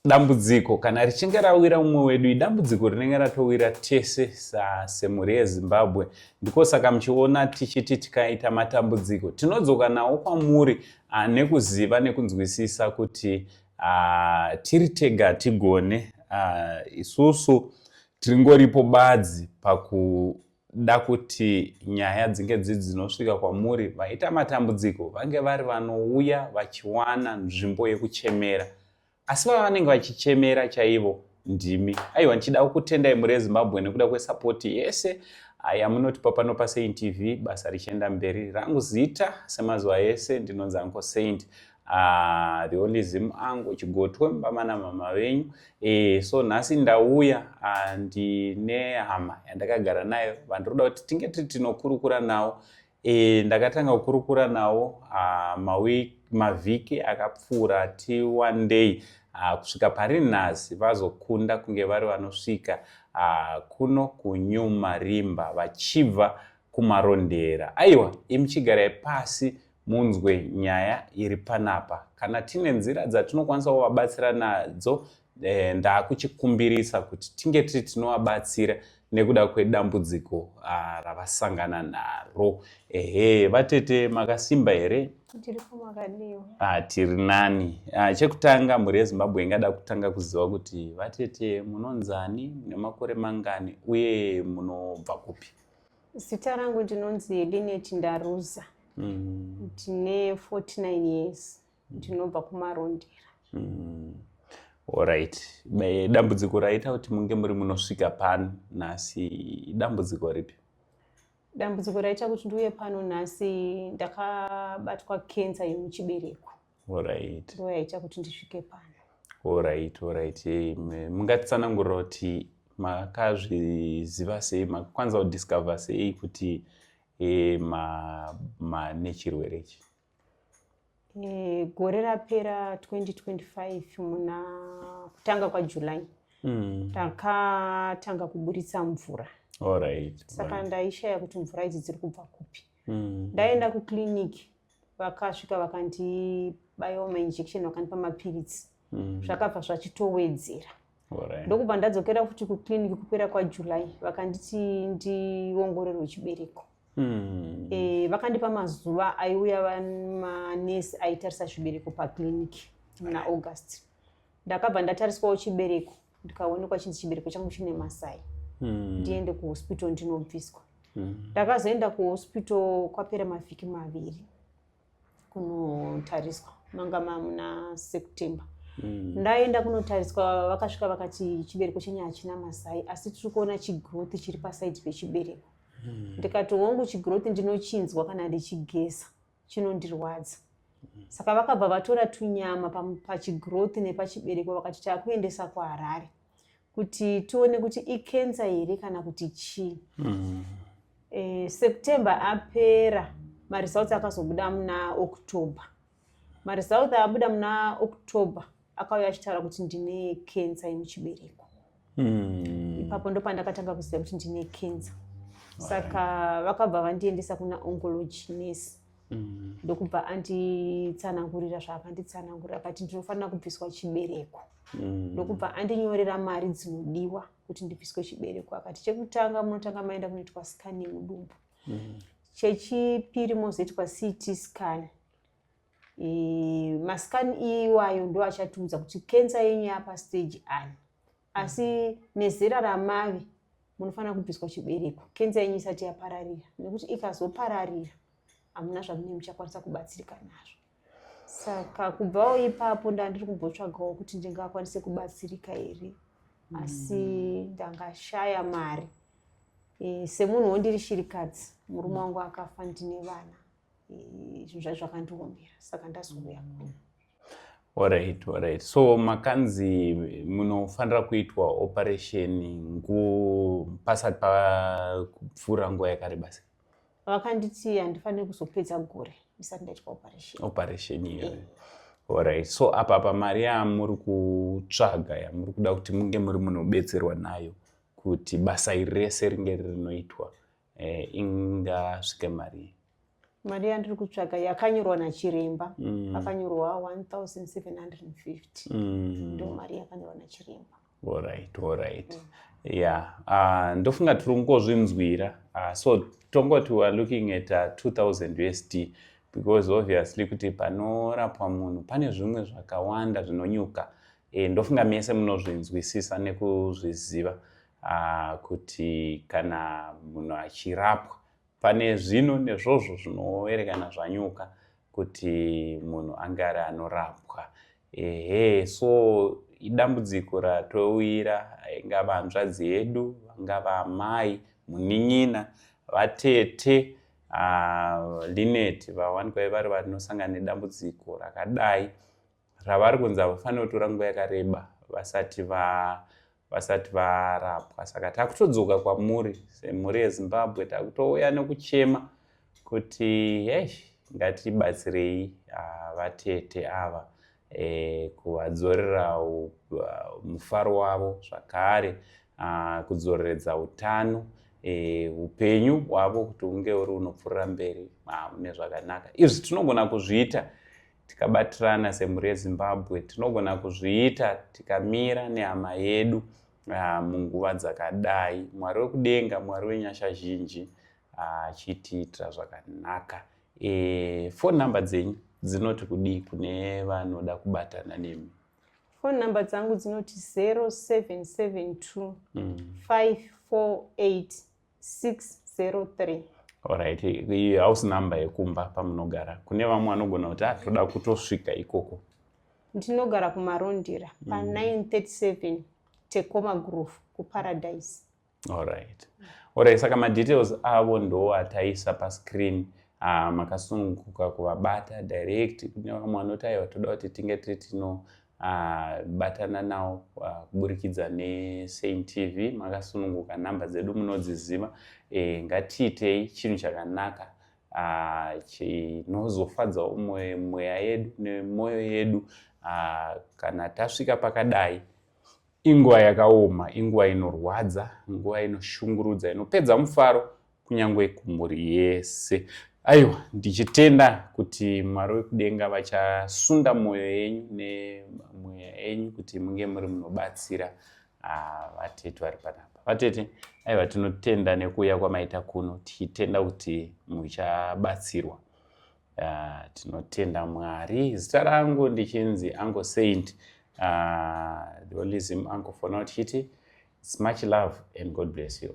Dambudziko kana richinge rawira umwe wedu idambudziko rinenge ratowira tese semhuri yezimbabwe ndiko saka muchiona tichiti tikaita matambudziko tinodzoka nawo kwamuri ah, nekuziva nekunzwisisa kuti ah, tiri tega hatigone ah, isusu tiringoripo badzi paku da kuti nyaya dzinge dzii dzinosvika kwamuri vaita matambudziko vange vari vanouya vachiwana nzvimbo yekuchemera asi vava vanenge vachichemera chaivo ndimi aiwa ndichida kukutendai muri ezimbabwe nekuda kwesapoti yese yamunotipa pano pasaint tv basa richienda mberi rangu zita semazuva ese ndinonzi anko saint Ah, the only zim angu chigotwe mama namama venyu eh, so nhasi ndauya ah, ndine hama yandakagara nayo vandiroda kuti tinge tiri tinokurukura nawo eh, ndakatanga kukurukura nawo ah, mavhiki akapfuura ti one day ah, kusvika pari nhasi vazokunda kunge vari vanosvika ah, kuno kunyuma rimba vachibva kumarondera aiwa imuchigarai pasi munzwe nyaya iri panapa kana tine nzira dzatinokwanisa kuvabatsira nadzo eh, ndakuchikumbirisa kuti tinge tiri tinovabatsira nekuda kwedambudziko ah, ravasangana naro ehe vatete makasimba here ah, tiri nani ah, chekutanga mhuri yezimbabwe ingada kutanga kuziva kuti vatete munonzani nemakore mangani uye munobva kupi Zita rangu ndinonzi Linet Ndaruza. Mm. Ndine 49 years. Mm. Ndinobva kuMarondera. Mm. Alright. Dambudziko raita kuti munge muri munosvika pano nhasi dambudziko ripi? Dambudziko raita kuti ndiuye pano nhasi ndakabatwa cancer yemuchibereko. Alright. Ndiyo yaita kuti ndisvike pano. Alright, alright. Hey, mungatitsanangurira kuti makazviziva sei makwanisa kudiscover sei kuti e, ma, ma nechirwere ichi e, gore rapera 2025 muna kutanga kwajuly mm. takatanga kuburitsa mvura right, saka right. ndaishaya kuti mvura idzi dziri kubva kupi mm. ndaenda kuclinic vakasvika vakandibaiwa mainjection vakandipa mapiritsi mm. zvakabva zvachitowedzera right. ndokubva ndadzokera futi kuclinic kupera kwajuly vakanditi ndiongorerwe chibereko mm. e, vakandipa mazuva aiuya manesi aitarisa zvibereko paclinic muna right. august ndakabva ndatariswawo chibereko ndikaonekwa chinzi chibereko changu chine masai hmm. ndiende kuhospital ndinobviswa hmm. ndakazoenda kuhospital kwapera mavhiki maviri kunotariswa manga mamuna september hmm. ndaenda kunotariswa vakasvika vakati chibereko chenyu hachina masai asi tiri kuona chigrowth chiri pasaidi pechibereko ndikati hongu chigrowth ndinochinzwa kana ndichigeza chinondirwadza mm. saka vakabva vatora tunyama pachigrowth nepachibereko vakati takuendesa kuharare kuti tione kuti ikensa here kana kuti chii mm. e, september apera maresults akazobuda muna october maresults abuda muna october akauya achitaura kuti ndine kensa yemuchibereko hmm. ipapo ndopandakatanga kuziva kuti ndine kensa saka vakabva vandiendesa kuna oncology nurse hmm. ndokubva anditsanangurira zvaakanditsanangurira akati ndinofanira kubviswa chibereko hmm. ndokubva andinyorera mari dzinodiwa kuti ndibviswe chibereko akati chekutanga munotanga maenda kunoitwa scan yemudumbu chechipiri mozoitwa ct scan e, masikani iwayo ndo achatiudza kuti kensa yenyu yapa stage ani asi nezera ramave munofanira kubviswa chibereko kensa yenyu isati yapararira nekuti ikazopararira hamuna zvamunee muchakwanisa kubatsirika nazvo saka kubvawo ipapo ndandiri kumbotsvagawo kuti ndingakwanise kubatsirika here mm. asi ndangashaya mari e, semunhu wondiri shirikadzi murume mm. wangu akafa ndine vana zvinhu zvacho zvakandiomera saka ndazouya kuno Alright, alright. So makanzi munofanira kuitwa operation ngu pasati papfuura nguva yakareba sei? Vakanditi handifanire kuzopedza gore ndisati ndaitwa operation. Operation iyoyo. Yeah. Alright. So apa apa mari yamuri kutsvaga yamuri kuda kuti munge muri munobetserwa nayo kuti basa iri rese ringe rinoitwa eh, ingasvike mari mari yandiri kutsvaga yakanyorwa nachiremba mm. akanyorwa 1750 mm. ndo mari yakanyorwa nachiremba orit orit mm. ya ah, ndofunga tiri kungozvinzwira ah, so tongoti weare looking at 2000 ah, usd because obviously kuti panorapwa munhu pane zvimwe zvakawanda zvinonyuka eh, ndofunga mese munozvinzwisisa nekuzviziva uh, kuti kana munhu achirapwa pane zvino nezvozvo zvinoerekana zvanyuka kuti munhu ange ari anorapwa ehe so idambudziko ratouyira ingava hanzvadzi yedu vangava amai munin'ina vatete uh, linet vawanikwa vari vanosangana nedambudziko rakadai ravari kunzi havafanire kutora nguva yakareba vasati va vasati varapwa saka takutodzoka kwamuri semhuri yezimbabwe takutouya nekuchema kuti hesh ngatibatsirei ah, vatete ava e, kuvadzorera ah, mufaro wavo zvakare ah, kudzoreredza utano e, upenyu hwavo kuti unge uri unopfuurira mberi mune zvakanaka izvi tinogona kuzviita tikabatirana semhuri yezimbabwe tinogona kuzviita tikamira nehama yedu ah, munguva dzakadai mwari wekudenga mwari wenyasha zhinji ah, achitiitira zvakanaka e, fon number dzenyu dzinoti kudii kune vanoda kubatana nemi fon number dzangu dzinoti 0772 548 603 orit iyi house number yekumba pamunogara kune vamwe vanogona kuti atoda ah, kutosvika ikoko ndinogara kumarondira pa937 mm. tekoma groove kuparadise orit orit saka madetails avo ndo ataisa pascreen ah, makasununguka kuvabata direct kune vamwe vanoti aiwa toda kuti tinge tiri tino Ah, batana nawo ah, kuburikidza nesaint tv makasununguka nhamba dzedu munodziziva e, ngatiitei chinhu chakanaka ah, chinozofadzawo mweya yedu nemwoyo yedu ah, kana tasvika pakadai inguva yakaoma inguva inorwadza nguva inoshungurudza inopedza mufaro kunyange kumhuri yese aiwa ndichitenda kuti mwari wekudenga vachasunda mwoyo yenyu nemweya yenyu kuti munge muri munobatsira ah, vatete vari panapa vatete aiwa tinotenda nekuuya kwamaita kuno tichitenda kuti muchabatsirwa ah, tinotenda mwari zita rangu ndichinzi ango saint ah, the only zim ango for now tichiti its much love and god bless you